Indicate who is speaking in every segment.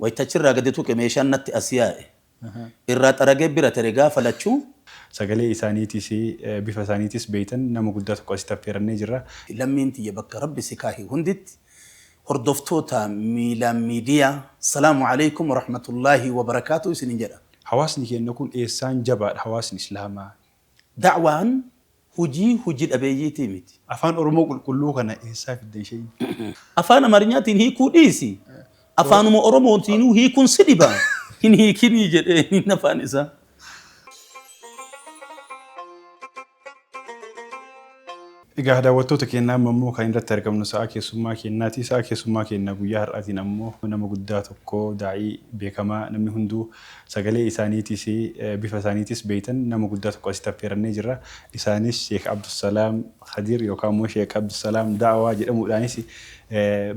Speaker 1: Wayta achirraa gadi tuqe meeshaan natti as yaa'e. Irraa xaragee bira tere gaafa lachuu. Sagalee
Speaker 2: isaaniitis, bifa isaaniitis beektan nama guddaa tokko asitti affeerannee jirra. Lammiin tiyya bakka
Speaker 1: Rabbi si kaahe hunditti hordoftoota Miilaan Miidiyaa Salaamu Aleykum Warahmatullaahi Wabarakaatuh isinin jedha. Hawaasni keenna kun
Speaker 2: eessaan jabaadha hawaasni Islaamaa Da'waan
Speaker 1: hojii hoji dhabeeyyiitii miti. Afaan Oromoo qulqulluu
Speaker 2: kana eessaa fiddan sheeyni? Afaan
Speaker 1: Amarinyaatiin hiikuu dhiisi. Afaanuma Oromootiinuu hiikuun si dhiba? Hin hiikinii jedheeniin afaan isaa.
Speaker 2: Egaa daawwattoota keenya amma immoo kan irratti argamnu sa'a keessummaa keenyaati. Sa'a keessummaa keenya guyyaa har'aatiin ammoo nama guddaa tokko daa'ii beekamaa namni hunduu sagalee isaaniitiis bifa isaaniitiis beektan nama guddaa tokko asitti affeerannee jirra. Isaanis Sheek Abdulsalaam Khadir yookaan immoo Sheek Abdulsalaam Da'awaa jedhamuudhaanis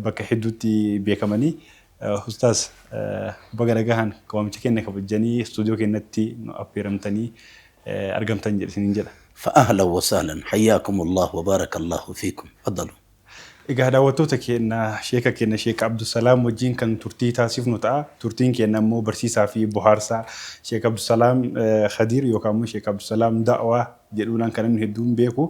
Speaker 2: bakka hedduutti beekamanii Ustaaz baga nagahaan waamicha keenna kabajjanii studio keennatti nu affeeramtanii argamtan jedhe isiniin jedha. Fa ahlan wa sahlan
Speaker 1: hayyaakumullah wa baarakallahu fiikum. Tfaddaluu. Egaa
Speaker 2: daawwattoota keenna sheeka keenna sheek Abdusalaam wajjiin kan turtii taasifnu ta'a. Turtiin keenna immoo barsiisaa fi bohaarsaa sheek Abdusalaam Khadiir yookaan immoo sheek Abdusalaam Da'waa jedhuunaan kan namni hedduun beeku.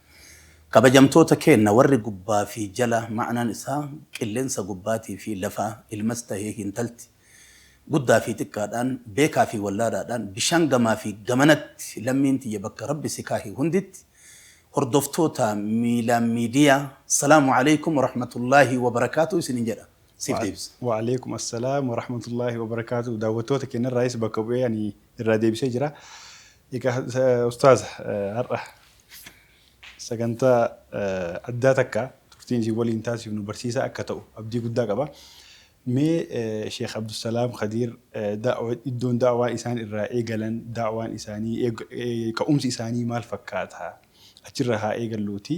Speaker 1: Kabajamtoota keenna warri gubbaa fi jala ma'anaan isaa qilleensa gubbaatii fi lafaa, ilmas tahee hintalti, guddaa fi xiqqaadhaan, beekaa fi wallaalaadhaan, bishaan gamaa fi gamanatti lammiin tiyya bakka Rabbi si kaahe hunditti hordoftoota Miilaan Miidiyaa Salaamu Aleykum Warahmatullaahi Wabarakaatuh isiniin jedha. Siif deebisa. Wa Aleykum Assalaam
Speaker 2: Warahmatullaahi Wabarakaatuh Daawwattoota keennarraayis bakka bu'ee ani irraa deebisee jira. Egaa ustaaza har'a sagantaa addaa takka turtiin isin waliin taasifnu barsiisaa akka ta'u abdii guddaa qaba. Mee Sheekh Abdusalaam Khadiir iddoon daawaa isaan irraa eegalan daawaan isaanii ka'umsi isaanii maal fakkaata achirraa haa eegalluuti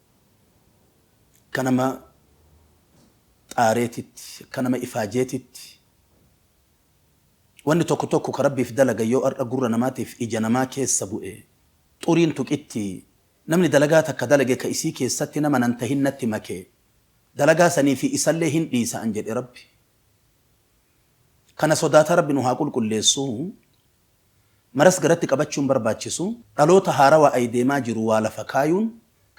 Speaker 1: Akka nama xaareetitti, akka nama ifaajeetitti, wanni tokko tokko ka Rabbiif dalagan yoo har'a gurra namaatiif ija namaa keessa bu'e, xuriin tuqitti, namni dalagaa takka dalage ka isii keessatti nama nan tahin natti make, dalagaa sanii fi isallee hin dhiisa'an jedhe Rabbi. Kana sodaata Rabbi nu haa qulqulleessu. maras garatti qabachuun barbaachisu dhaloota haarawa ai deemaa jiru waa lafa kaayuun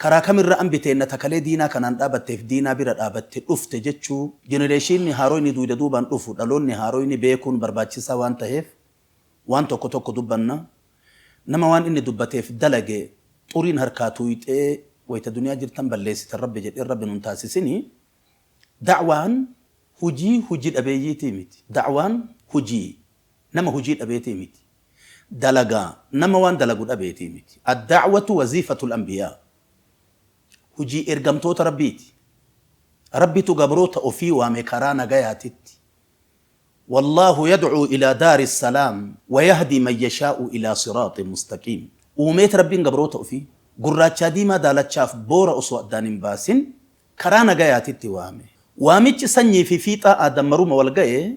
Speaker 1: karaa kamirra anbi teenna ta kalee diinaa kanaan dhaabatteef diinaa bira dhaabatte dhufte jechuu jenereeshiinni haaroyni duuyda duubaan dhufu dhaloonni haaroyni beekuun barbaachisaa waan taheef waan tokko tokko dubbanna nama waan inni dubbateef dalage xuriin harkaa tuuyxee wayta duniyaa jirtan balleessitan rabbi jedhee rabbi nun taasisini da'waan hujii huji dhabeeyyiitii miti da'waan hujii nama hujii dhabeetii miti. Dalagaa, nama waan dalagu dhabeetii miti. Ad-da'watu waziifatul anbiyaa. Hujii ergamtoota Rabbiiti. Rabbitu gabroota ofii waame karaa nagayaatitti. Wallaahu yad'uu ilaa daari salaam wa yahdii man yashaa'u ilaa siraaxin mustaqiim. Uumeet Rabbiin gabroota ofii, gurraachaa diimaa daalachaaf boora osoo addaan hin baasin, karaa nagayaatitti waame. Waamichi sanyii fi fiixaa aadam maruma wal gaye.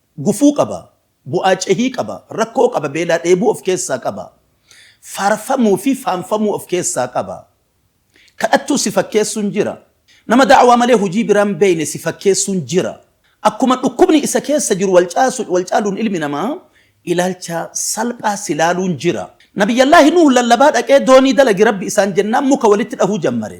Speaker 1: Gufuu qaba, bu'aa cehii qaba, rakkoo qaba, beelaa dheebuu of keessaa qaba, faarfamuu fi faanfamuu of keessaa qaba. Kadhattuu si fakkeessuun jira. Nama da'awaa malee hujii biraa hin beeyne si fakkeessuun jira. Akkuma dhukkubni isa keessa jiru wal caasu, wal caaluun ilmi namaa ilaalcha salphaa si laaluun jira. Nabiyyallaahi Nuuh lallabaa dhaqee doonii dalagi Rabbi isaan jennaan muka walitti dhahuu jammare.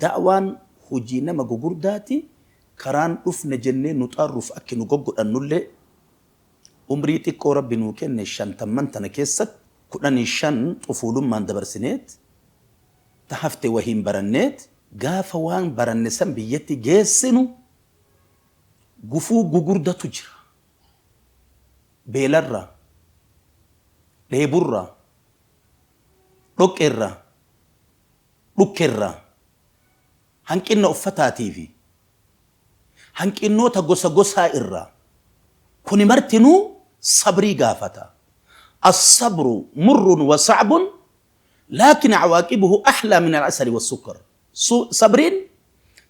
Speaker 1: Da'waan hojii nama gugurdaati, karaan dhufne jennee nu xaarruuf akki nu goggodhannullee, umrii xiqqoo Rabbi nuu kenne shantamman tana keessatti kudhanii shan xufuulummaan dabarsineet, ta hafte wahiin baranneet, gaafa waan baranne san biyyatti geessinu gufuu gugurdatu jira, beelarraa, dheeburraa, dhoqqeerraa, Dhukkerra, hanqinna uffataatii fi hanqinnoota gosa gosaa irraa. Kuni martinuu sabrii gaafata. As-sabru murrun wa sa'bun laakin a'waaqibuhu ahlaa min al-asali was-sukkar. Su, sabriin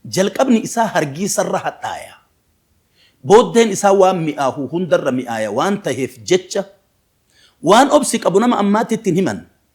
Speaker 1: jalqabni isaa hargiisa irra hadhaaya. Booddeen isaa waan mi'aahu hunda irra mi'aaya waan taheef jecha waan obsi qabu nama ammaatti itti hin himan.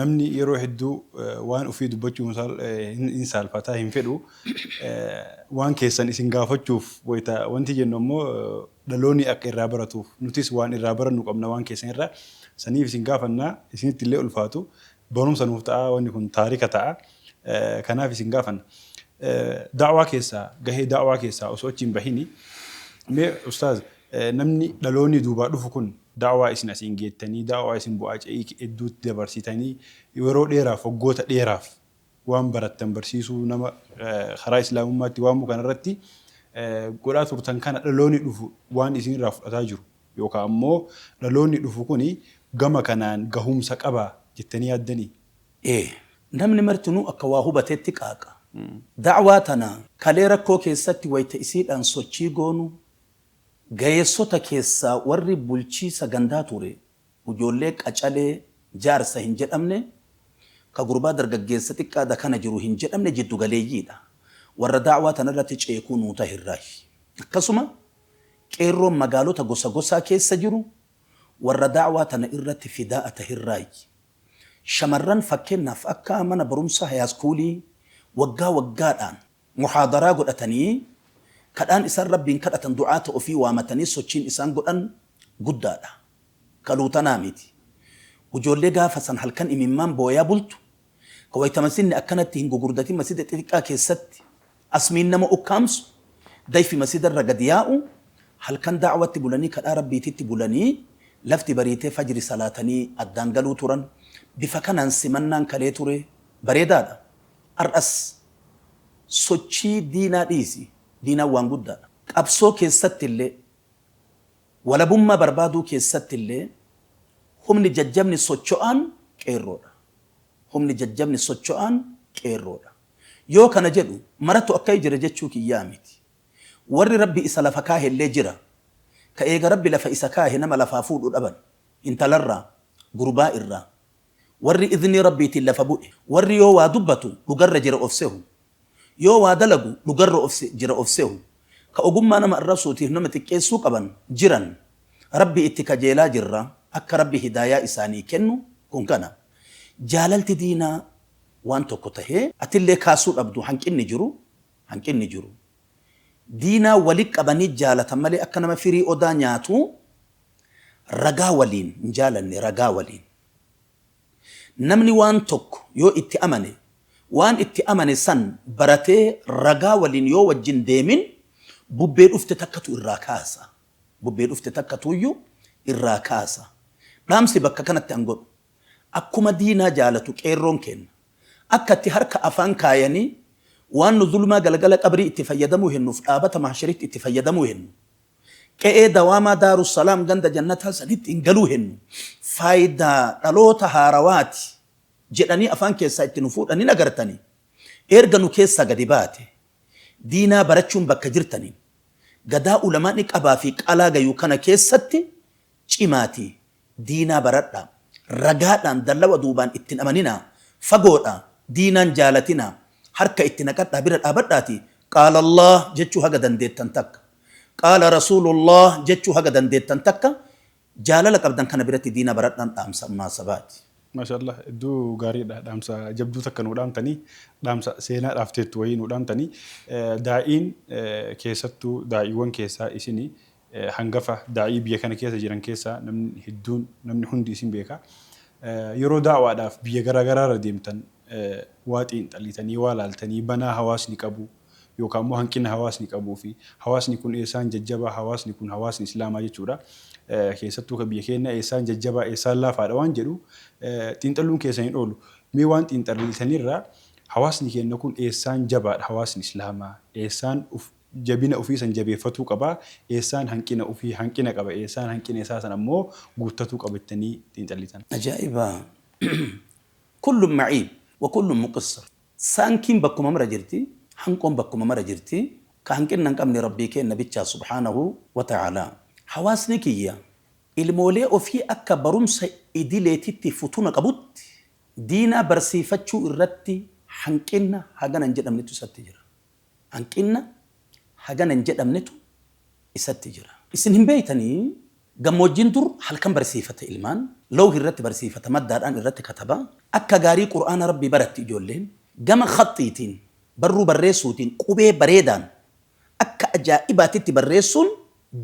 Speaker 2: Namni yeroo hedduu waan ufii dubbachuu hin saalfata, hin fedhu. Waan keessan isin gaafachuuf wayta wanti jennu ammoo dhalooni akka irraa baratuuf, nutis waan irraa barannu qabna waan keessan irra. Saniif isin gaafanna, isinitti illee ulfaatu. Barumsa nuuf ta'a, wanni kun taarika ta'a. Kanaaf isin gaafanna. Da'waa keessaa, gahee da'waa keessaa osoo achi hin bahini mee ustaaz Namni dhaloonni duubaa dhufu kun da'waa isin asiin geettanii, da'waa isin bu'aa ce'iik edduutti dabarsitanii, yeroo dheeraaf, waggoota dheeraaf waan barattan barsiisuu, nama karaa Islaamummaatti waamuu kanarratti godhaa turtan kana dhaloonni dhufu waan isinirraa fudhataa jiru yookaa ammoo dhaloonni dhufu kun gama kanaan gahumsa qaba jettanii yaaddanii? Ee.
Speaker 1: Namni martinuu akka waa hubatetti qaaqa. Da'waa tana kalee rakkoo keessatti wayta isiidhaan sochii goonu Gaheessota keessaa warri bulchiisa gandaa ture ujoollee qacalee jaarsa hin jedhamne, ka gurbaa dargaggeessa xiqqaa dakana jiru hin jedhamne jiddu galeeyyii dha. Warra da'waa tana irratti ceekuu nuu tahe irraayi. Akkasuma qeerroon magaalota gosa gosaa keessa jiru warra da'waa tana irratti fidaa'a tahe irraayi. Shamarran fakkeennaaf akka mana barumsaa hayaaskuulii waggaa waggaadhaan. Muhaadaraa godhatanii kadhaan isaan Rabbiin kadhatan du'aata ofii waamatanii sochiin isaan godhan guddaadha. Ka luutanaa miti. Ujoollee gaafa san halkan imimmaan booyaa bultu, ka wayta masjidni akkanatti hin gugurdatin masjida xixiqqaa keessatti asmiin nama ukkaamsu, dayfi masjidarra gad yaa'u, halkan da'awatti bulanii kadhaa Rabbiititti bulanii lafti bariitee fajri salaatanii addaan galuu turan. Bifa kanaan simannaan kalee ture bareedaadha. Ar'as sochii diinaa dhiisi, diinaan waan guddaadha. Qabsoo keessattillee, walabummaa barbaaduu keessattillee humni jajjabni socho'aan Qeerroodha. Humni jajjabni socho'aan Qeerroodha. Yoo kana jedhu maratu akkai jira jechuu kiyyaa miti. Warri Rabbi isa lafa kaahellee jira. Ka eega Rabbi lafa isa kaahe nama lafaa fuudhu dhaban. Intalarraa, gurbaa irraa, Warri idhnii Rabbiitiin lafa bu'e, warri yoo waa dubbatu dhugarra jira of sehu, yoo waa dalagu dhugarra of jira of sehu, ka ogummaa nama arrabsuutiif nama xiqqeessuu qaban jiran, Rabbi itti kajeelaa jirra, akka Rabbi hidaayaa isaanii kennu, kun kana. Jaalalti diinaa waan tokko tahee, atillee kaasuu dhabdu, hanqinni jiru, hanqinni jiru. Diinaa wali qabanii jaalatan malee akka nama firii odaa nyaatuu Ragaa waliin, hin jaalanne, ragaa waliin. Namni waan tokko yoo itti amane, waan itti amane san baratee ragaa waliin yoo wajjin deemin, bubbee dhufte takkatu irraa kaasa. Bubbee dhufte takkatuuyyu irraa kaasa. Dhaamsi bakka kanatti an godhu, akkuma diinaa jaalatu qeerroon keenna, akka itti harka afaan kaayanii waan nu zulmaa galgala qabrii itti fayyadamuu hennuuf dhaabata mahsharitti itti fayyadamuu hennu, Qe'ee dawaamaa Daaru Salaam ganda Jannataa sanitti hin galuu hennu faayidaa dhaloota haarawaati jedhanii afaan keessaa itti nu fuudhan hin agartanii? Eerga nu keessaa gadi baate diinaa barachuun bakka jirtaniin gadaa ulamaa'ni qabaa fi qalaa gayu kana keessatti cimaatii diinaa baradhaa ragaadhaan dallawa duubaan itti hin amaninaa fagoodhaa diinaan jaalatinaa harka itti naqadhaa bira dhaabadhaati qaala allaah jechuu haga dandeettan takka qaala rasuulu llaah jechuu haga dandeettan takka jaalala qabdan kana biratti diinaa baradhaan dhaamsa munaasabaati. Maasha'allaah hedduu
Speaker 2: gaariidha dhaamsa jabduu takka nuu dhaamtanii dhaamsa seenaa dhaafteettu wayii nuu dhaamtanii daa'iin keessattuu daa'iiwwan keessaa isini hangafa daa'ii biyya kana keessa jiran keessaa namni hedduun namni hundi isin beeka. Yeroo da'waadhaaf biyya garaa garaa irra deemtan waa xiinxaliitanii waa laaltanii banaa hawaasni qabu yookaan immoo hanqina hawaasni qabuu fi hawaasni kun eessaan jajjabaa hawaasni kun hawaasni islaamaa jechuudha keessattuu ka biyya keennaa eessaan jajjabaa eessaan laafaadha waan jedhu xiinxaluun keessan hin oolu. Mee waan xiinxaliitanirraa hawaasni keenna kun eessaan jabaadha hawaasni islaamaa eessaan uf jabina ufii san jabeeffatuu qaba, eessaan hanqina ufii hanqina qaba, eessaan hanqina isaa san ammoo guuttatuu qaba jettanii xiinxallitan. Ajaa'iba!
Speaker 1: Kullun ma'iib wa kullun muqissir, saankiin bakkuma mara jirti, hanqoon bakkuma mara jirti, ka hanqinna hin qabne Rabbii keenna bichaa subhaanahu wa ta'aalaa. Hawaasni kiyya ilmoolee ofii akka barumsa idileetitti futuna qabutti diinaa barsiifachuu irratti hanqinna hagana hin jedhamnetu isatti jira. Hanqinna hagana hin jedhamnetu isatti jira. Isin hin beeytanii? Gammoojjiin dur halkan barsiifata ilmaan, lawhi irratti barsiifata, maddaadhaan irratti kataba, akka gaarii Qur'aana Rabbii baratti ijoolleen, gama khaxxiitiin, barruu barreessuutiin, qubee bareedaan akka ajaa'ibaatitti barreessuun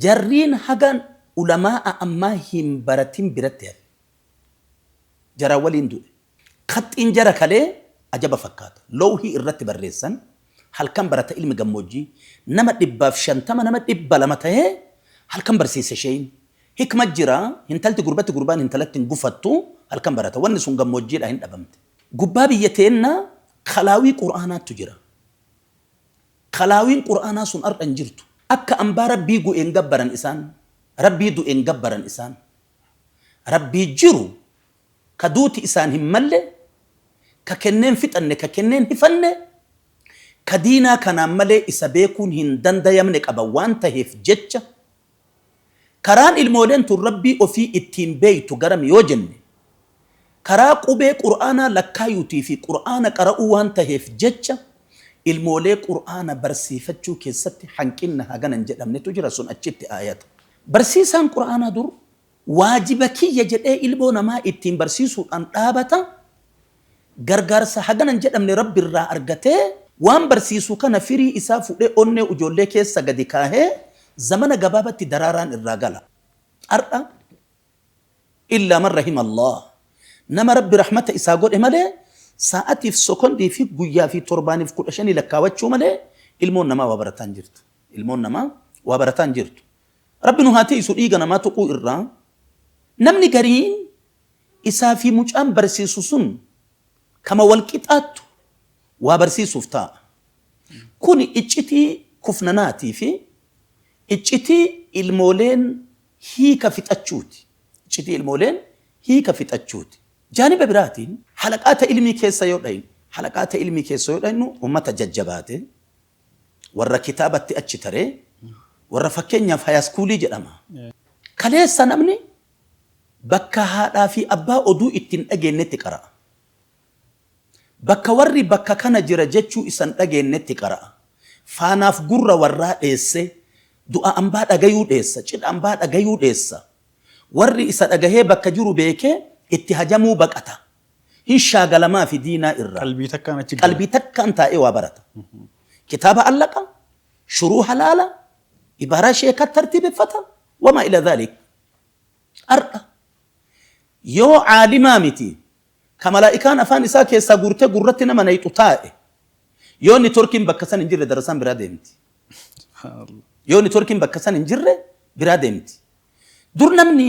Speaker 1: jarriin haga ulamaa'a ammaa hin baratin biratti hafe. Jaraan waliin du'e. Kaxxiin jara kalee ajaba fakkaata. Lowhii irratti barreessan, Halkan barata ilmi gammoojjii, nama dhibbaaf shantama nama dhibba lama tahee halkan barsiisa sheeyni. Hikma jira, hintalti gurbatti gurbaan hintalatti hin gufattu, halkan barata. Wanni sun gammoojjiidhaa hin dhabamte. Gubbaa biyya teennaa kalaawii Qur'aanaattu jira. Kalaawiin Qur'aanaa sun har'a hin jirtu. Akka ambaa Rabbii gu'e hin gabbaran isaan, Rabbii du'e hin gabbaran isaan. Rabbii jiru ka duuti isaan hin malle, ka kennee hin fixanne, ka kennee hin hifanne, ka diinaa kanaan malee isa beekuun hin dandayamne qaba waan taheef jecha, karaan ilmooleen tun Rabbii ofii ittiin beeytu garami yoo jenne, karaa qubee Qur'aanaa lakkaayuutii fi Qur'aana qara'uu waan taheef jecha, ilmoolee Qur'aana barsiifachuu keessatti hanqinna hagana hin jedhamnetu jira, sun achitti aayata. Barsiisaan Qur'aanaa dur Waajiba kiyya jedhee ilmoo namaa ittiin barsiisuudhaan dhaabata, gargaarsa hagana hin jedhamne Rabbi irraa argatee, waan barsiisu kana firii isaa fudhee onnee ujoollee keessa gadi kaahee zamana gabaabatti daraaraan irraa gala. Har'a Illaa man rahima Allaah, nama Rabbi rahmata isaa godhe malee, saa'atiif, sokondii fi guyyaa fi torbaaniif kudha shanii lakkaawachuu malee ilmoon namaa waa barataa hin jirtu. Ilmoon namaa waa barataa hin jirtu. Rabbi nu haa tiiysu dhiiga namaa tuquu irraa Namni gariin isaa fi mucaan barsiisu sun kama wal qixaattu waa barsiisuuf taa'a. Kuni iccitii kufnanaatii fi iccitii ilmooleen hiika fixachuuti. Iccitii ilmooleen hiika fixachuuti. Jaaniba biraatiin halaqaa ta ilmii keessa yoo dhaynu, halaqaa ta ilmii keessa yoo dhaynu ummata jajjabaate, Warra kitaabatti achi tare, warra fakkeenyaaf hayaskuulii jedhama. Kaleessa namni bakka haadhaa fi abbaa oduu itti hin dhageennetti qara'a. Bakka warri bakka kana jira jechuu isa hin dhageennetti qara'a. Faanaaf gurra warraa dheessee, du'a ambaa dhagayuu dheessa, cidha ambaa dhagayuu dheessa. Warri isa dhagahee bakka jiru beekee itti hajamuu baqata. Hin shaagalamaafi diinaa irraa. Qalbii takkaan achi gala. Qalbii takkaan taa'ee waa barata. Kitaaba allaqa, shuruuha laala, ibaaraa sheekaa tartiibeffata, wamaa ilaa zaalik. Har'a yoo caalimaa miti ka malaa'ikaan afaan isaa keessaa guurtee gurratti nama nayxu taa'e, yoo nitworkiin bakka san hin jirre darasaan biraa deemti. Subhaanallah. Yoo nitworkiin bakka san hin jirre biraa deemti. Dur namni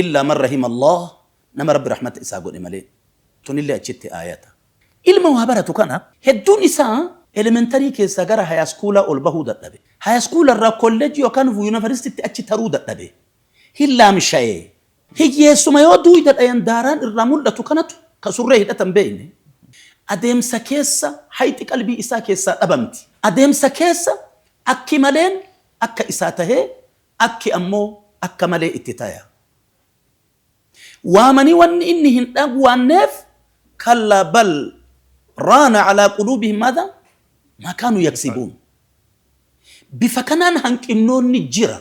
Speaker 1: Illaa man rahima Allaah, nama Rabbi rahmata isaa godhe malee. Tunillee achitti aayata. Ilma waa baratu kana hedduun isaa elementarii keessaa gara hayaskuulaa ol bahuu dadhabe. Hayaskuula irraa kollejjii yookaan yuunivarsiitiitti achi taruu dadhabe. Hin laamshaye. Hiyyeessuma yoo duuyda dhayan daaraan irraa mul'atu kanatu ka surree hidhatan beeyne. Adeemsa keessa hayxi qalbii isaa keessaa dhabamti. Adeemsa keessa akki maleen akka isaa tahee Akki ammoo akka malee itti taya. Waamanii wanni inni hin dhagwaanneef, kallaa bal raana calaa quluubihim maadhaa maa kaanuu yaksibuun. Bifa kanaan hanqinnoonni jira.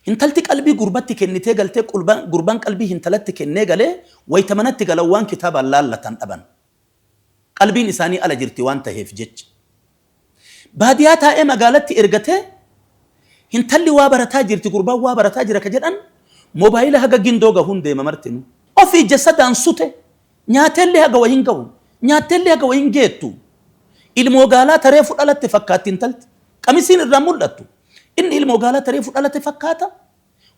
Speaker 1: Hintalti qalbii gurbatti kennitee galtee qulbaan gurbaan qalbii hintalatti kennee galee wayta manatti galan waan kitaabaan laallatan dhaban. Qalbiin isaanii ala jirti waan taheef jecha. Baadiyaa taa'ee magaalatti ergatee hintalli waa barataa jirti gurbaan waa barataa jira ka jedhan mobaayila haga gindoo gahuun deema martinuu. Ofi ija sadaan sute nyaateellee haga wa hingahu nyaatteellee haga wa hingeettu. Ilmoo gaalaa ta reefu dhalatte fakkaatti intalti. Qamisiin irraan mul'attu. Inni ilmoo gaalaa ta reefu dhalate fakkaata.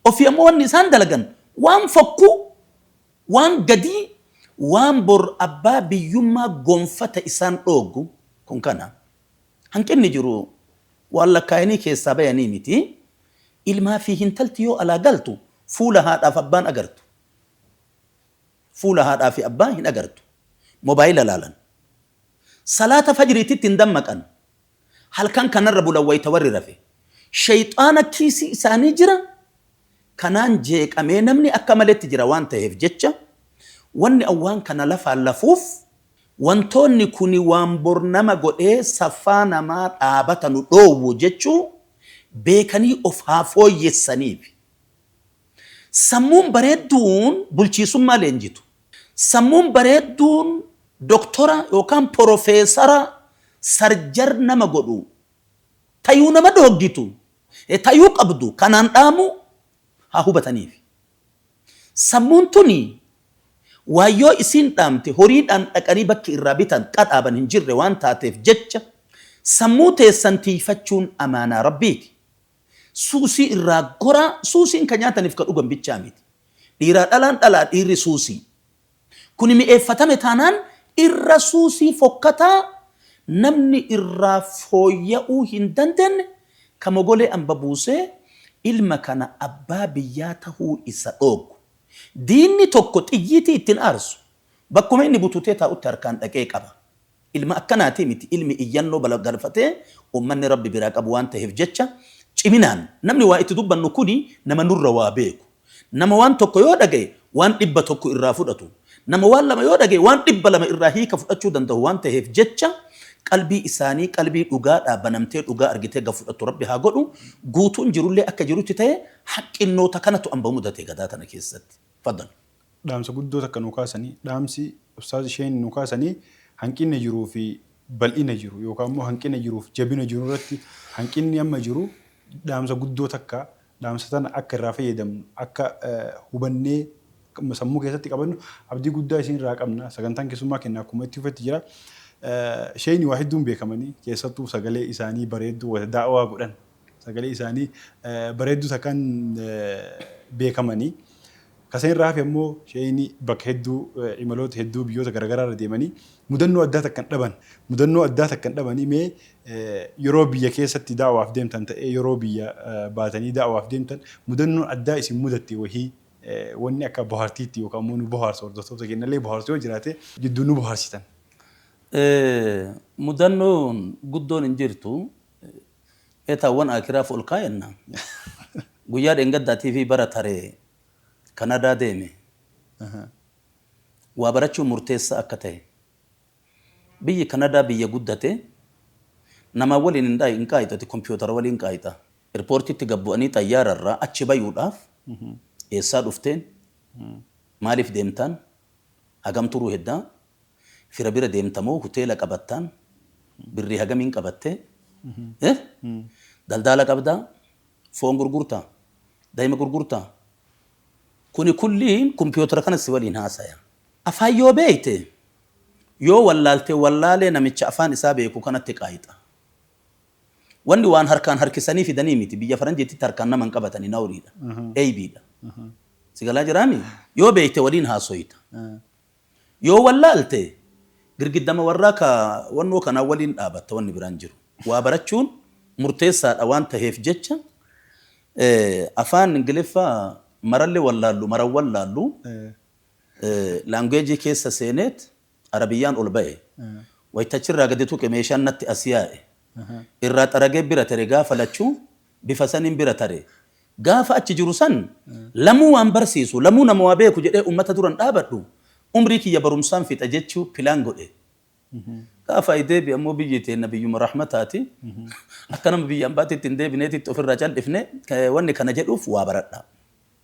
Speaker 1: Ofii ammoo wanni isaan dalagan waan fokkuu. Waan gadii waan bor abbaa biyyummaa gonfata isaan dhooggu kun kana. Hanqinni jiru waan lakkaayanii keessaa bayanii miti. Ilmaa fi hintalti yoo alaa galtu fuula haadhaaf abbaan agartu. Fuula haadhaa fi abbaa hin agartu. Mobaayila laalan. Salaata fajriititti hin dammaqan. Halkan kanarra bulan wayta warri rafe. Sheyxaana kiisii isaanii jira, kanaan jeeqamee namni akka maletti jira waan taheef jecha, wanni an waan kana lafaan lafuuf, wantoonni kuni waan bor nama godhee saffaa namaa dhaabata nu dhoowwu jechuu beekanii of haa fooyyessaniifi. Sammuun bareedduun bulchiisummaa leenjitu. Sammuun bareedduun doktora yookaan porofeesara sarjar nama godhu tayuu nama dhooggitu tayuu qabdu kanaan dhaamu haa hubataniifi. Sammuun tuni waan yoo isiin dhaamte horiidhaan dhaqanii bakki irraa bitan qadhaaban hin jirre waan taateef jecha sammuu teessan tiiyfachuun amaanaa Rabbiiti. Suusii irraa goraa Suusiin ka nyaataniif ka dhugan bichaa miti. Dhiiraa dhalaan dhalaa dhiirri suusii. Kuni mi'eeffatame taanaan irra suusii fokkataa namni irraa fooyya'uu hin dandenne ka mogolee amba buusee ilma kana abbaa biyyaa tahuu isa dhooggu. Diinni tokko xiyyiitii itti hin aarsu. Bakkuma inni bututee taa'utti harkaan dhaqee qaba. Ilma akkanaatii miti ilmi iyyannoo balagalfatee ummanni Rabbi biraa qabu waan taheef jecha ciminaan namni waa itti dubbannu kuni nama nurra waa beeku, nama waan tokko yoo dhagahe waan dhibba tokko irraa fudhatu, nama waan lama yoo dhagahe waan dhibba lama irraa hiika fudhachuu dandahu waan taheef jecha qalbii isaanii qalbii dhugaadhaa banamtee dhugaa argitee gad fudhattu Rabbi haa godhu, guutuun jirullee akka jirutti tahee haqqinnoota kanatu amma mudate gadaa tana keessatti. Fadal. dhaamsa guddoo
Speaker 2: takka nuu kaasani. Dhaamsi ustaaz Huseen nuu kaasani hanqinna jiruu fi bal'ina jiru yookaa immoo hanqina jiruu fi jabina jiru irratti hanqinni amma jiru dhaamsa guddoo takka dhaamsa tana akka irraa fayyadamnu akka hubannee sammuu keessatti qabannu abdii guddaa isin irraa qabna. Sagantaan keessummaa kenna akkuma itti fufetti jira. Sheeyni waa hedduun beekamani keessattuu sagalee isaanii bareedduu wayita da'awaa godhan Sagalee isaanii bareedduu takkaan beekamani. Ka san irraa hafe ammoo sheeyni bakka hedduu imaloota hedduu biyyoota garagaraa irra deemanii mudannoo addaa takka hin dhaban. Mudannoo addaa takka hin dhabanii mee yeroo biyya keessatti da'waaf deemtan ta'ee yeroo biyya baatanii da'waaf deemtan mudannoon addaa isin mudatte wahii wanni akka bohaartiitti yookaa ammoo nu bohaarsu hordoftoota keennallee bohaarsu yoo jiraate jidduun nu bohaarsitan.
Speaker 1: Mudannoon guddoon hin jirtu. Etaa wan akiraaf ol kaayanna guyyaa dhengaddaa TV bara taree kanadaa deeme waa barachuun murteessaa akka tahe biyyi kanadaa biyya guddate namaa waliin hin dhaayi hin qaayixu ati kompiyotara waliin qaayxa irpoortiitti gad bu'anii xayyaara irraa achi bayuudhaaf eessaa dhufteen maaliif deemtaan hagam turuu heddaa Fira bira deemta moo huteela qabattaan birrii hagamiin qabattee eh daldaala qabdaa foon gurgurtaa dayima gurgurtaa kuni kulliin kumpiyootara kana si waliin haasaya afaan yoo beekte yoo wallaalte wallaalee namicha afaan isaa beeku kanatti qaayxa wanni waan harkaan harkisanii fidanii miti biyya faranjiitti harkaan nama hin qabatani nawriidha eeybiidha si galaa jiraami yoo beekte waliin haasoyta Yoo wallaalte girgiddama warraa ka wannoo kanaa waliin dhaabatta wanni biraa hin jiru. Waa barachuun murteessaadha waan taheef jecha afaan Ingiliffa maralle wallaallu maran wallaallu language keessa seeneet Arabiyyaan ol bahe. Wayta achirraa gadi tuqe meeshaan natti as yaa'e. Irraa xaragee bira tere gaafa lachuu bifa saniin bira tare. Gaafa achi jiru san lamuu waan barsiisu, lamuu nama waa beeku jedhee ummata duran dhaabadhu, umrii kiyya barumsaan fixa jechuu pilaan godhe. Gaafa ayi deebi'e ammoo biyyi teenna biyyuma rahmataati. Akka nama biyya ambaatitti hin deebineetitti ofirraa caldhifne. Wanni kana jedhuuf waa baradhaa.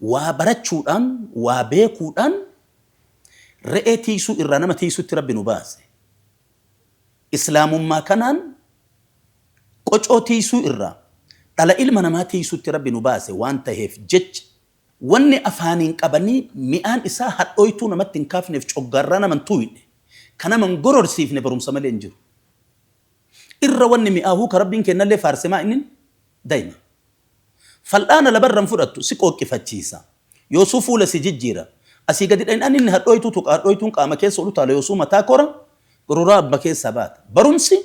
Speaker 1: Waa barachuudhaan, waa beekuudhaan re'ee tiiksuu irraa nama tiiksutti Rabbi nu baase. Islaamummaa kanaan qocoo tiiksuu irraa dhala ilma namaa tiiksutti Rabbi nu baase waan taheef jecha, wanni afaaniin qabanii mi'aan isaa hadhooytuu namatti hin kaafneef coggaarraa nama hin tuuyne, ka nama hin gororsiifne barumsa malee hin jiru. Irra wanni mi'aahu ka Rabbiin keennallee faarse maa innin? Daima. Fal'aana labarra hin fudhattu, si qooqqifachiisa. Yoosuu fuula si jijjiira. Asii gadi dhaynaan inni hadhooytuu tuqa, hadhooytuun qaama keessa ol utaala, yoosuu mataa kora, gororaa abba keessaa baata. Barumsi,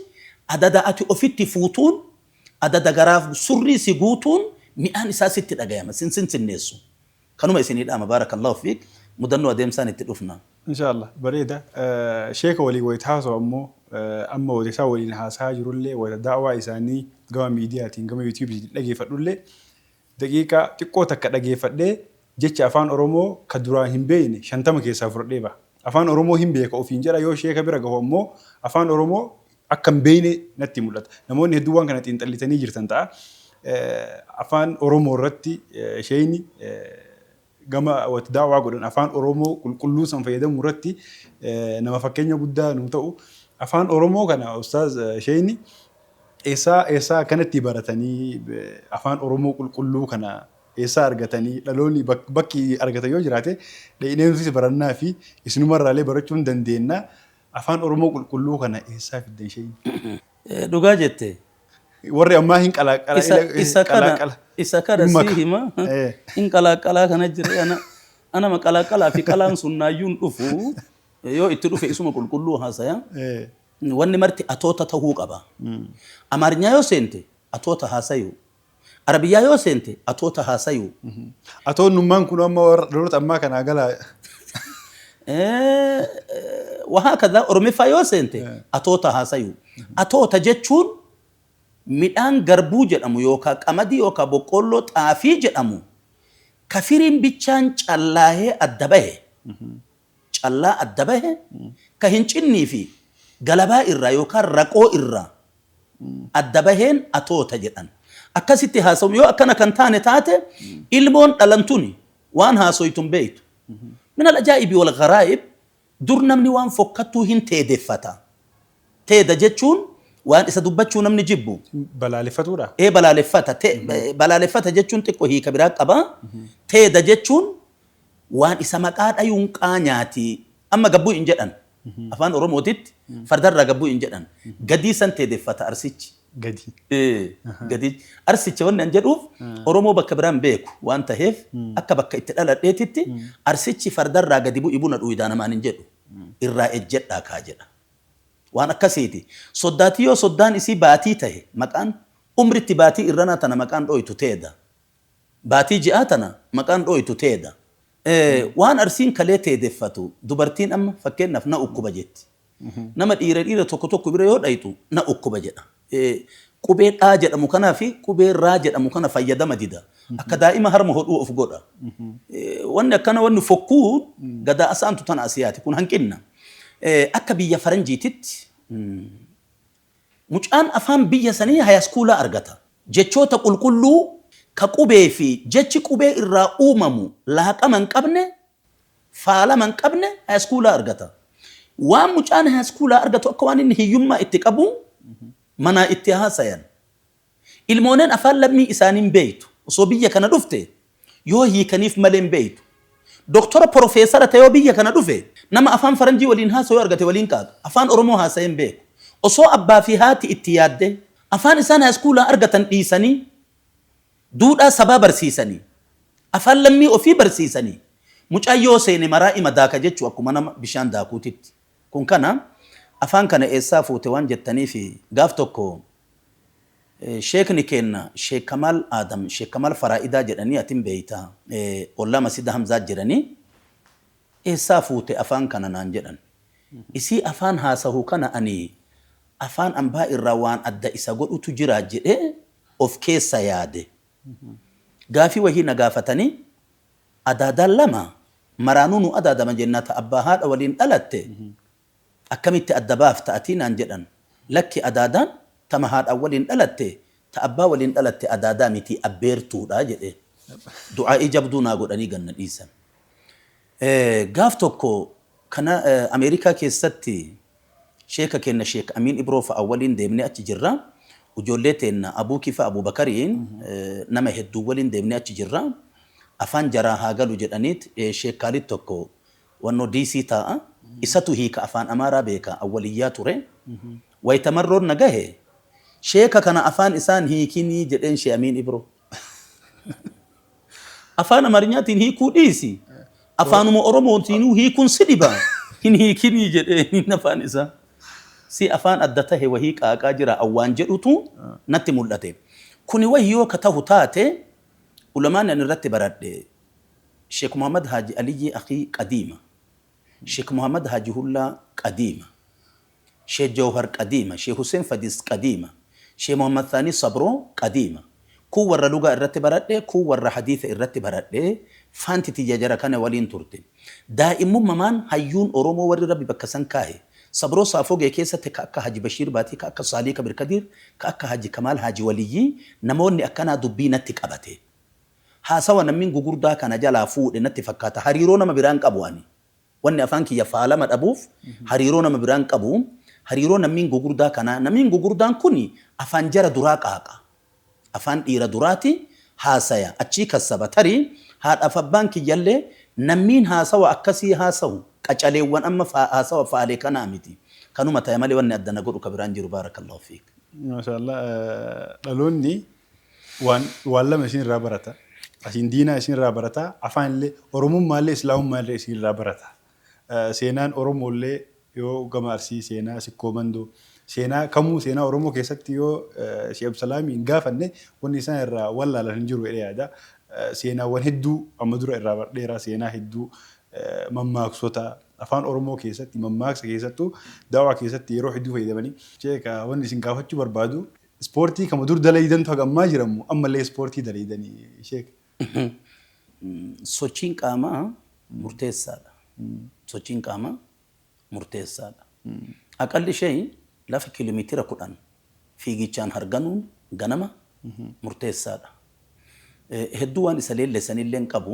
Speaker 1: Adada ati ofitti fuutuun, adada garaaf surrii si guutuun mi'aan isaa sitti dhagayama, sin sinsinneessu. Kanuma isinii dhaama baarakallaahu fiik mudannoo adeemsaan itti dhufna. Inshaa Allah bareeda.
Speaker 2: Sheeka waliin wayita haasawu ammoo amma wayita isaan waliin haasayaa jirullee wayita da'awaa isaanii gama miidiyaatiin gama yuutuubiitiin dhageeffadhullee daqiiqaa xiqqoo takka dhageeffadhee jecha afaan oromoo ka duraan hin beeyne 50 keessaa fudhadhee baha. Afaan oromoo hin beeka ofiin jedha yoo sheeka bira gahu ammoo afaan oromoo akka hin beekne natti mul'ata. Namoonni hedduun waan kana xiinxallitanii jirtan ta'a. Afaan Oromoo irratti sheeyni gama wati daawaa godhan afaan Oromoo qulqulluu san fayyadamuu irratti nama fakkeenya guddaa nuu ta'u. Afaan Oromoo kana ustaaz sheeyni eessaa eessaa akkanatti baratanii afaan Oromoo qulqulluu kana eessaa argatanii dhaloonni bakki argatan yoo jiraate dhaqneemsis barannaa fi isinumarraallee barachuun dandeenna. Afaan Oromoo qulqulluu kana eessaa fiddan sheeyni? Dhugaa
Speaker 1: jette. Warri ammaa
Speaker 2: hin qalaaqala Isa, ila- isa kana, qalaaqala. isa kana Hin
Speaker 1: maka. sii hima. Eh. Hin qalaaqalaa kana jira. Ana, anama qalaaqalaa fi qalaan sun naayyuu hin dhufu. Yoo itti dhufe isuma qulqulluu haasaya. Eh. Wanni marti atoota tahuu qaba. Amaarinyaa yoo seente atoota haasayu. Arabiyyaa yoo seente atoota haasayu. Atoon nummaan
Speaker 2: kunoo amma warra dhaloota ammaa kanaa galaa. Eh,
Speaker 1: Wahaakadha Oromiffaa yoo seente atoota haasayu. Atoota jechuun midhaan garbuu jedhamu yookaa qamadii yookaa boqqoolloo xaafii jedhamu ka firiin bichaan callaahee adda bahe callaa adda bahe ka hin cinnii fi galabaa irraa yookaan raqoo irraa adda baheen atoota jedhan. Akkasitti haasawuun yoo akkana kan taane taate ilmoon dhalan tuni waan haasoytu hin beektu. Min al-ajaa'ibi wal gharaa'ib dur namni waan fokkattuu hin teedeffata. Teeda jechuun waan isa dubbachuu namni jibbu. Balaaleffatu dha?
Speaker 2: Ee balaaleffata.
Speaker 1: Balaaleffata jechuun xiqqo hiika biraa qaba. Teeda jechuun waan isa maqaa dhayuun qaanyaati amma gabbuu hin jedhan afaan oromootitti fardarraa gabbuu hin jedhan gadii san teedeffata arsichi Gadi. Ee,
Speaker 2: gadii
Speaker 1: arsicha wanni an jedhuuf oromoo bakka biraan beeku waan taheef akka bakka itti dhaladheetitti arsichi fardarraa gadi bu'i buna dhuyidaa namaan hin jedhu irraa ejjedhaa kaa jedha waan akkasiiti soddaatii yoo soddaan isii baatii tahe maqaan umritti baatii irranaa tana maqaan dhooytu teeda Baatii ji'aa tana maqaan dhooytu teeda. Waan Arsiin kalee teedeffatu dubartiin amma fakkeennaaf na ukkuba jetti. Nama dhiira dhiira tokko tokko bira yoo dhayxu na ukkuba jedha. Qubee dhaa jedhamu kanaa fi qubee raa jedhamu kana fayyadama dida. Akka daa'ima harma hodhuu of godha. Wanni akkana wanni fokkuu gadaa asaantu tana asiyaati. Kun hanqinna. Akka biyya faranjiititti. Mucaan afaan biyya sanii hayaskuulaa argata. Jechoota qulqulluu ka qubee fi jechi qubee irraa uumamu laaqama hin qabne, faalama hin qabne hayaskuulaa argata. Waan mucaan hayaskuulaa argatu akka waan inni hiyyummaa itti qabuu manaa itti haasayan. Ilmoonen afaan lammii isaanii hin beektu. Osoo biyya kana dhufte yoo hiikaniif malee hin beektu. Doktora porofeesara ta'ee yoo biyya kana dhufe nama afaan faranjii waliin haasawu yoo argate waliin qaaqa. Afaan Oromoo haasa'ee hin beeku. Osoo abbaa fi haati itti yaaddee afaan isaan haayiskuulaa argatan dhiisanii duudhaa sabaa barsiisanii afaan lammii ofii barsiisanii mucaan yoo seene maraa ima daaka jechu akkuma nama bishaan daakuutitti. Kun kana afaan kana eessaa fuute waan jettaniif gaaf tokko Sheekni keenna Sheek Kamaal Aadam Sheek Kamaal Faraa'idaa jedhanii ati hin beeyta ollaa Masjida Hamzaa jiranii eessaa fuute afaan kana naan jedhan. Isii afaan haasahu kana ani afaan ambaa irraa waan adda isa godhutu jira jedhee of keessa yaade. Gaafii wahii na gaafatanii adaadaan lama maraanuu nu adaadama jenna ta abbaa haadha waliin dhalatte Akkamitti adda baafta ati? naan jedhan. Lakki adaadaan tama haadhaan waliin dhalatte, ta abbaa waliin dhalatte adaadaa miti, abbeertuudha jedheen. Du'aa'ii jabduu naa godhanii gad na dhiisan. Gaaf tokko kana Ameerikaa keessatti sheeka keenna Sheek Amiin Ibroo fa'a waliin deemnee achi jirra. Ujoollee teenna Abuu Kifaa Abuu Bakariin nama hedduun waliin deemnee achi jirra. Afaan jaraa haa galu jedhaniit Sheek Kaalid tokko Wannoo DC taa'a isatu hiika afaan Amaaraa beeka awwal iyyaa ture wayta Marroon na gahe sheeka kana afaan isaan hiikinii jedheen she Amiin Ibroo Afaan Amarinyaatiin hiikuu dhiisi afaanuma Oromootiinuu hiikun si dhiba hin hiikinii jedheenin afaan isaa si afaan adda tahe wahii qaaqaa jira awwaan jedhutu natti mul'ate kuni wayyoo ka tahu taate Ulamaani ani irratti baradhe Shek Muhammad Haji Aliyyii Akhii Qadiima Shek Muhammad Haji Hullaa Qadiima Sheh Jawhar Qadiima Sheh Huseen Fadis Qadiima Sheh Muhammad Thaanii Sabroo Qadiima Kuun warra lugaa irratti baradhe kuun warra hadiitha irratti baradhe Faanti tiyya jara kana waliin turte Daa'immummamaan hayyuun Oromoo warri Rabbi bakka san kaahe Sabroo Saafogee keessatti ka akka Haji Bashiir Baatii ka akka Saalii Kabir Kadiir ka akka Haji Kamaal Haji Waliyyii namoonni akkanaa dubbii natti qabatee Haasawa nammin gugurdaa kana jalaa fuudhe natti fakkaata hariiroo nama biraan qabu ani wanni afaan kiyya faalama dhabuuf hariiroo nama biraan qabu hariiroo nammin gugurdaa kanaa namin gugurdaan kuni afaan jara duraa qaaqa afaan dhiira duraati haasaya achii kassaba tarii haadhaaf abbaan kiyyallee nammiin haasawa akkasii haasawu qacaleewwan amma haasawa faale kanaa miti kanuma taya malee wanni adda na godhu ka biraan jiru baarakallahu fiik. Masha Allah
Speaker 2: dhaloonni waan waan lama isin irraa barata asiin diinaa isin irraa barata afaan illee oromummaa illee islaamummaa illee isin irraa barata seenaan oromoo illee yoo gama arsii seenaa sikkoo mandoo seenaa kamuu seenaa oromoo keessatti yoo sheekh abdusalaamii hin gaafanne wanni isaan irraa wallaalan hin jiru jedhee yaada seenaawwan hedduu amma dura irraa bardheeraa seenaa hedduu mammaaksota afaan oromoo keessatti mammaaksa keessattuu daawaa keessatti yeroo hedduu fayyadamanii sheeka wanni isin gaafachuu barbaadu Ispoortii kama dur dalaydantu haga ammaa jiramu ammallee ispoortii dalaydani sheek.
Speaker 1: Sochiin qaamaa murteessaadha. Sochiin qaamaa murteessaadha. Aqalli shey lafa kilomeetira kudhan fiigichaan harganuun ganama murteessaadha. Hedduu waan isa leellessanillee hin qabu.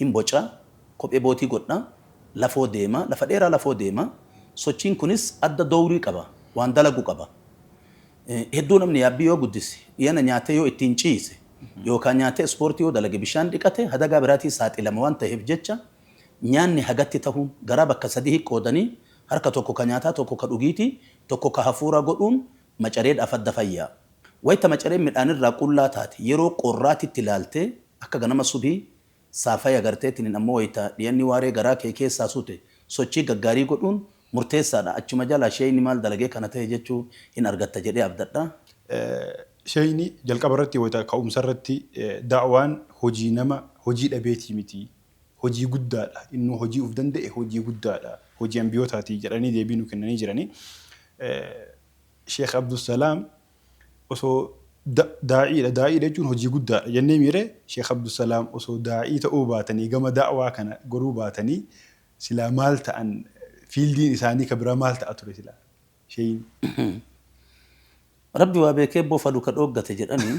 Speaker 1: hin boca, kophee bootii godha, lafoo deema, lafa dheeraa lafoo deema, sochiin kunis adda dowrii qaba, waan dalagu qaba. Hedduu namni yaabbii yoo guddise, dhiyana nyaatee yoo ittiin ciise, yookaa nyaatee ispoortii yoo dalage bishaan dhiqate hadagaa biraatii saaxilama waan taheef jecha nyaanni hagatti tahuun garaa bakka sadihi qoodanii harka tokko ka nyaataa tokko ka dhugiitii tokko ka hafuuraa godhuun Macaree dhaaf adda fayyaa. Wayta macareen midhaan irraa qullaa taate yeroo qorraa titti laaltee akka ganama subhii saa faya garteetiniin ammoo wayta dhiyanni waaree garaa kee keessaa sute sochii gaggaarii godhuun murteessaa dha achuma jalaa sheeyni maal dalagee kana tahe jechuu hin argatta jedhee abdadha.
Speaker 2: Sheeyni jalqaba irratti wayta ka'umsa irratti da'waan hojii nama hojii dhabeetii miti. hojii guddaadha, innuu hojii uf danda'e hojii guddaadha, hojii anbiyootaati jedhanii deebii nuu kennanii jirani. Sheikh Abdulsalaam osoo daa'iidha, daa'iidha jechuun hojii guddaadha jennee miiree? Sheikh Abdulsalaam osoo daa'ii ta'uu baatanii gama da'waa kana goruu baatanii silaa maal ta'an fiildiin isaanii ka biraa maal ta'a ture silaa? Sheeyin.
Speaker 1: Rabbi waa beekee bofadu ka dhooggate jedhanii.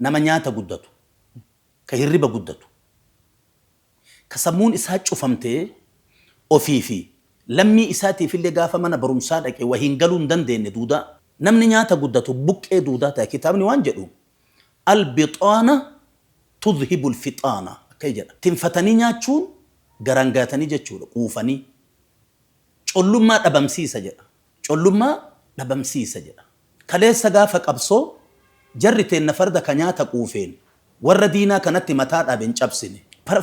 Speaker 1: Nama nyaata guddatu, ka hirriba guddatu, ka sammuun isaa cufamtee ofii fi lammii isaatiifillee gaafa mana barumsaa dhaqe wa hin galuu hin dandeenne duudaa. Namni nyaata guddatu buqqee duudaa taya. Kitaabni waan jedhu, Al-bixaana tudhibu al-fixaana, akkay jedha. Tinfatanii nyaachuun garaan gayatanii jechuudha, quufanii. Collummaa dhabamsiisa jedha. Collummaa dhabamsiisa jedha. Kaleessa gaafa qabsoo jarri teenna farda ka nyaata quufeen warra diinaa kanatti mataa dhaabe hin cabsine.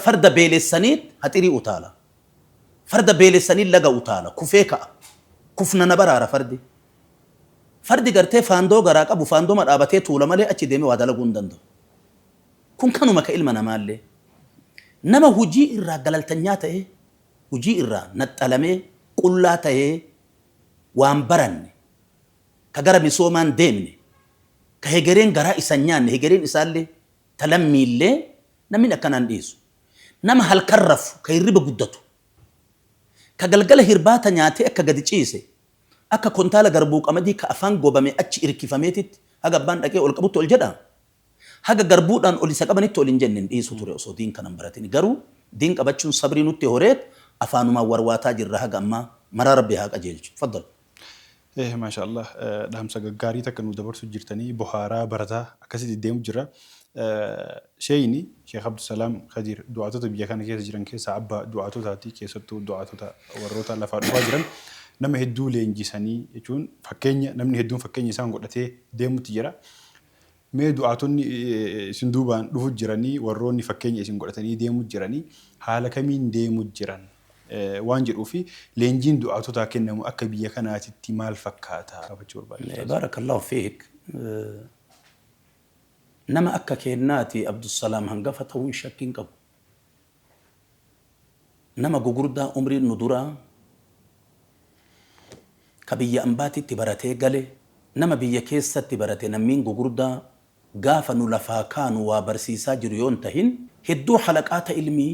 Speaker 1: Farda beelessaniit haxirii utaala. Farda beelessaniit laga utaala, kufee ka'a. Kufna na baraara fardi. Fardi gartee faandoo garaa qabu faandoma dhaabatee tuula malee achi deemee waa dalaguu hin danda'u. Kun kanuma ka ilma namaallee. Nama hujii irraa galaltanyaa ta'ee hujii irraa naxxalamee qullaa tahee waan baranne, ka gara misoomaan deemne, ka hegereen garaa isa hin nyaanne, hegereen isaallee ta lammiillee namni akkanaa hin dhiisu. Nama halkan rafu, ka hirriba guddatu, ka galgala hirbaata nyaatee akka gadi ciise, akka kontaala garbuu qamadii ka afaan gobamee achi irkifameetitti haga abbaan dhaqee ol qabutti ol jedha. Haga garbuudhaan ol isa qabanitti ol hin jenne, hin dhiisu ture osoo diin kana hin baratin. Garuu diin qabachuun sabrii nutti horeet afaanumaan warwaataa jirra haga ammaa. Maraa Rabbi haa qajeelchu. Faddal. Eeh
Speaker 2: maashaa allaah dhaamsa gaggaarii takka nuu dabarsu jirtanii bohaaraa barataa akkasitti itti deemu jirra sheeyni sheek abdusalaam kadiir du'aatota biyya kana keessa jiran keessaa abba du'aatotaati keessattuu du'aatota warroota lafaa dhufaa jiran nama hedduu leenjisanii jechuun fakkeenya namni hedduun fakkeenya isaan godhatee deemutti jira Mee du'aatonni isin duubaan dhufu jiranii, warroonni fakkeenya isin godhatanii deemu jiranii haala kamiin deemu jiran? waan jedhuu fi leenjiin du'aatotaa kennamu akka biyya kanaatitti maal fakkaata? gaafachuu barbaade Ustaaz. Baarakallaahu
Speaker 1: fiik. Nama akka keennaati Abdulsalaam hangafa tahuun shakki hin qabu. nama gugurdaa umriin nu duraa ka biyya ambaatitti baratee gale nama biyya keessatti barate nammiin gugurdaa gaafa nu lafaa kaanu waa barsiisaa jiru yoo hin tahin hedduu halaqaata ilmii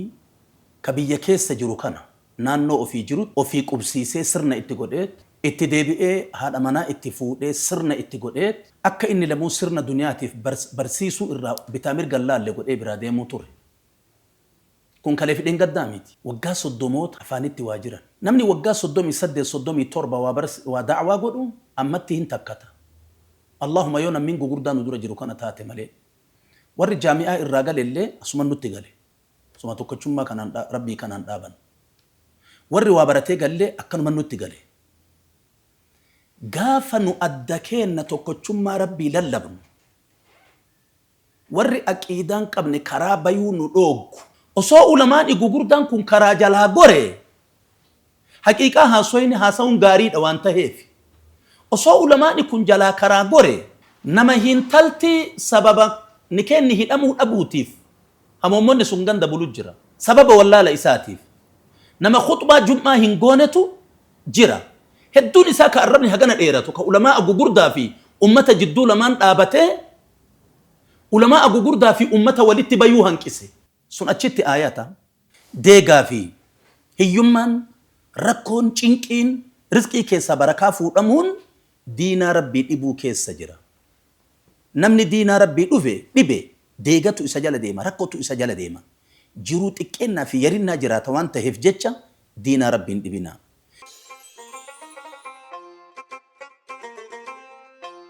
Speaker 1: ka biyya keessa jiru kana naannoo ofii jirutti ofii qubsiisee sirna itti godheet itti deebi'ee haadha manaa itti fuudhee sirna itti godheet akka inni lamuu sirna duniyaatiif barsiisuu irraa bitaa mirga hin laalle godhee biraa deemuu ture. Kun kalee fi dheengaddaa miti. Waggaa soddomoota afaanitti waa jiran. Namni waggaa soddomii saddeet, soddomii torba waa barsi, waa da'awaa godhu ammatti hin takkata. Allaahuma yoo nammin gugurdaa nu dura jiru kana taate malee. Warri jaami'aa irraa gale illee asuman nutti gale. Osoma tokkochummaa kanaan dha, Rabbii kanaan dhaabannu. Warri waa baratee gallee akkanuman nutti gale. Gaafa nu adda keenna tokkochummaa Rabbii lallabnu. Warri aqiidaan qabne karaa bayuu nu dhooggu. Osoo ulamaani gugurdaan kun karaa jalaa gore haqiiqaa haasoyni haasawuun gaariidha waan taheefi. Osoo ulamaani kun jalaa karaa gore nama hintalti sababa nikeenni hidhamuu dhabuutiif hamoommonni sun ganda bulu jira. Sababa wallaala isaatiif nama khuxbaa jum'aa hin goonetu jira. Hedduun isaa ka arrabni hagana dheeratu ka ulamaa'a gugurdaa fi ummata jidduu lamaan dhaabatee Ulamaa'a gugurdaa fi ummata walitti bayuu hanqise. Sun achitti aayata, deegaa fi hiyyummaan, rakkoon, cinqiin, rizqii keessaa barakaa fuudhamuun diinaa Rabbii dhibuu keessa jira. Namni diinaa Rabbii dhufe, dhibe, deegatu isa jala deema, rakkotu isa jala deema. Jiruu xiqqeennaa fi yarinnaa jiraata waan taheef jecha diinaa Rabbii hin dhibinaa.